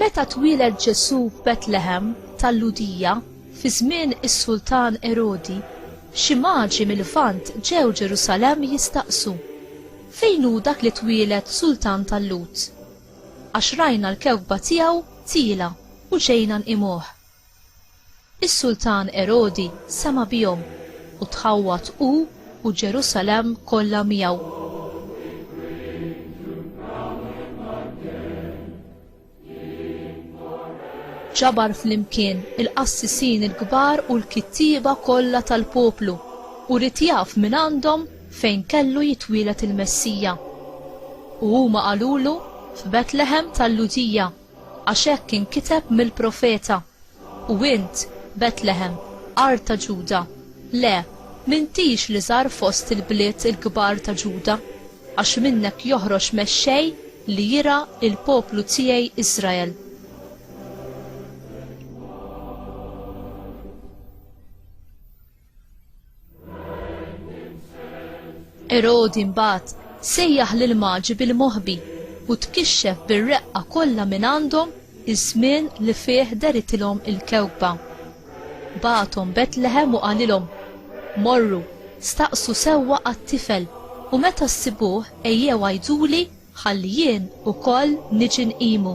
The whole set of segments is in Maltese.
Meta twieled Ġesù f'Betlehem tal-Lhudija fi żmien is-Sultan Erodi, xi maġi mill-Lvant ġew Ġerusalemm jistaqsu, Fejn hu dak li twieled Sultan tal-Lhud? Għax rajna l-kewkba tiegħu tiela' u ġejna nqimuh. Is-Sultan Erodi sema' bihom, u tħawwad hu u Ġerusalemm kollha miegħu. Ġabar flimkien il-qassisin il-kbar u l-kittieba kollha tal-poplu, u ried jaf mingħandhom fejn kellu jitwieled il-Messija. U huma qalulu, 'F'Betleħem tal-Lhudija, għax hekk inkiteb mill-profeta, 'U int, Betleħem, art ta' Ġuda, le, m'intix l-iżgħar fost il-bliet il-kbar ta' Ġuda, għax minnek joħroġ Mexxej li jirgħa l-poplu tiegħi Israel. Erodi mbagħad sejjaħ lil maġi bil-moħbi u tkixxef bir-reqqa kollha minn għandhom iż-żmien li fih deritilhom il-kewkba. Bagħathom Betlehem u qalilhom, Morru, staqsu sewwa għat-tifel u meta ssibuh ejjew għiduli ħalli jien ukoll niġi nqimu.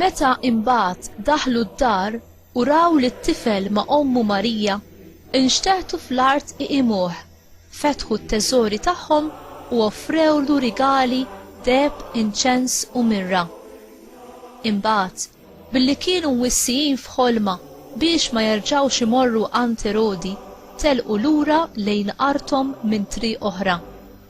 Meta imbagħad daħlu d-dar u raw lit-tifel ma' ommu Marija, inxteħtu fl-art iqimuh, fetħu t-teżori tagħhom u offrewlu rigali, deheb, inċens u mirra. Imbagħad, billi kienu mwissijin f'ħolma biex ma jerġgħux imorru għand Erodi, telqu lura lejn arthom minn triq oħra.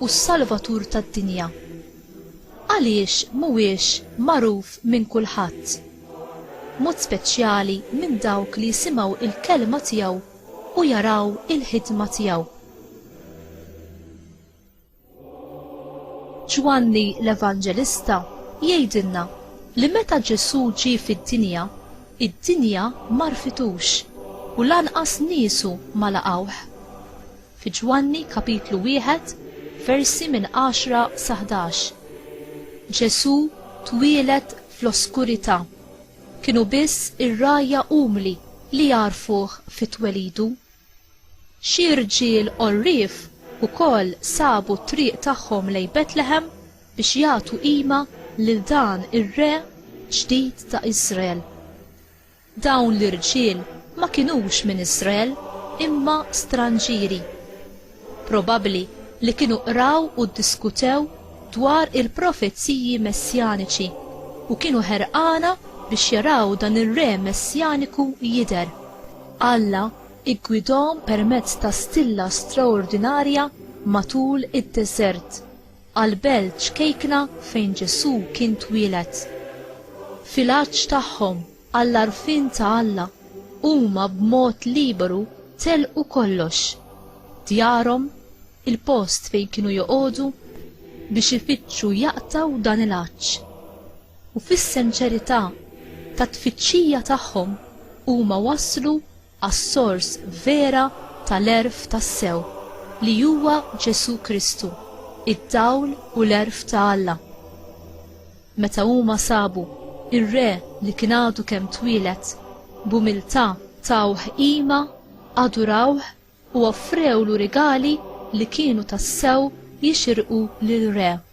u s-Salvatur tad-dinja. Għaliex mhuwiex magħruf minn kulħadd? B'mod speċjali minn dawk li jisimgħu l-kelma tiegħu u jaraw il-ħidma tiegħu. Ġwanni l-Evanġelista jgħidilna li meta Ġesù ġie fid-dinja, id-dinja m'għarfitux u lanqas niesu ma laqgħuh. Fi Ġwanni kapitlu wieħed, versi minn għaxra sa ħdax, Ġesù twieled fl-oskurità. Kienu biss ir-rgħajja umli li jagħrfuh fi twelidu. Xi rġiel għorrief ukoll sabu t-triq tagħhom lejn Betlehem biex jagħtu qima lil dan ir-Re ġdid ta' Iżrael. Dawn l-irġiel ma kinux minn Israel, imma stranġieri. Probabbli li kienu qraw u ddiskutew dwar il-profeziji messjaniċi u kienu ħerqana biex jaraw dan ir-Re Messjaniku jidher. Alla ggwidahom permezz ta' stilla straordinarja matul id-deżert. għall-belt ċkejkna fejn Ġesù kien twieled. Fil-għatx tagħhom għall-għarfien ta' Alla, huma b'mod liberu telqu kollox, djarhom, il-post fejn kienu joqogħdu, biex ifittxu jaqtgħu dan il-għatx. U fis-senċerità tat-tfittxija tagħhom huma waslu għas-sors vera tal-għerf tassew, li huwa Ġesù Kristu, id-dawl u l-għerf ta' Alla. Meta huma sabu r-re li kien għadu kemm twieled, b'umiltà tawh qima, adurawh u offrewlu rigali li kienu tassew jixirqu lir-re.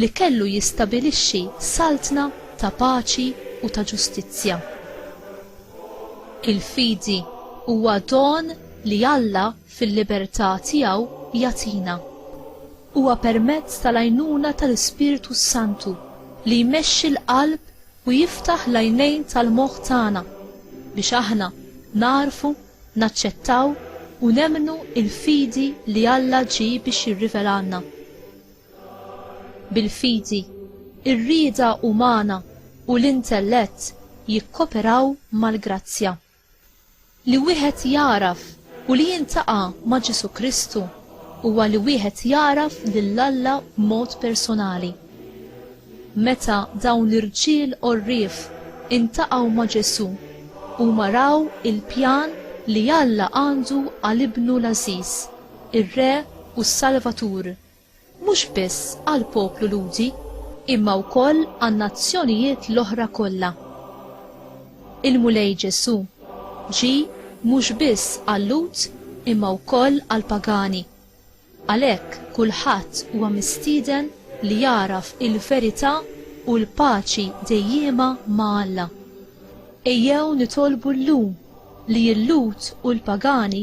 li kellu jistabilixxi saltna ta' paċi u ta' ġustizzja. Il-fidi huwa don li Alla fil-libertà tiegħu jagħtina. Huwa permezz tal-għajnuna tal-Ispirtu s-Santu li jmexxi l-qalb u jiftaħ l-għajnejn tal-moħħ tagħna biex aħna nagħrfu, naċċettaw u nemmnu l-fidi li Alla ġie biex jirrivelalna. Bil-fidi, ir-rieda umana u l-intellett jikkoperaw mal-grazzja. Li wieħed jagħraf u li jiltaqa' ma' Ġesù Kristu huwa li wieħed jagħraf lil Alla b'mod personali. Meta dawn l-irġiel għorrief intaqgħu ma' Ġesù, huma raw il-pjan li Alla għandu għal Ibnu l-għażiż, ir-Re u s-Salvatur. mhux biss għall-poplu Lhudi imma wkoll għan-nazzjonijiet l-oħra kollha. Il-Mulej Ġesù ġie mhux biss għal-Lhud imma wkoll għall-pagani. Għalhekk kulħadd huwa mistieden li jagħraf il-verità u l-paċi dejjiema ma' Alla. Ejjew nitolbu llum li l-Lhud u l-pagani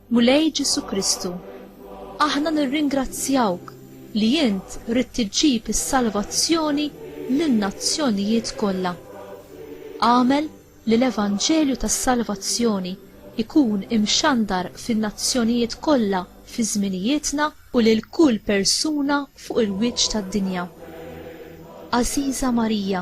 Mulej Ġesù Kristu, aħna nirringrazzjawk li int ridt iġġib is-salvazzjoni lin-nazzjonijiet kollha. Agħmel li l-evanġelju tas-salvazzjoni jkun imxandar fin-nazzjonijiet kollha fi żminijietna u lil kull persuna fuq il-wiċċ tad-dinja. Għażiża Marija,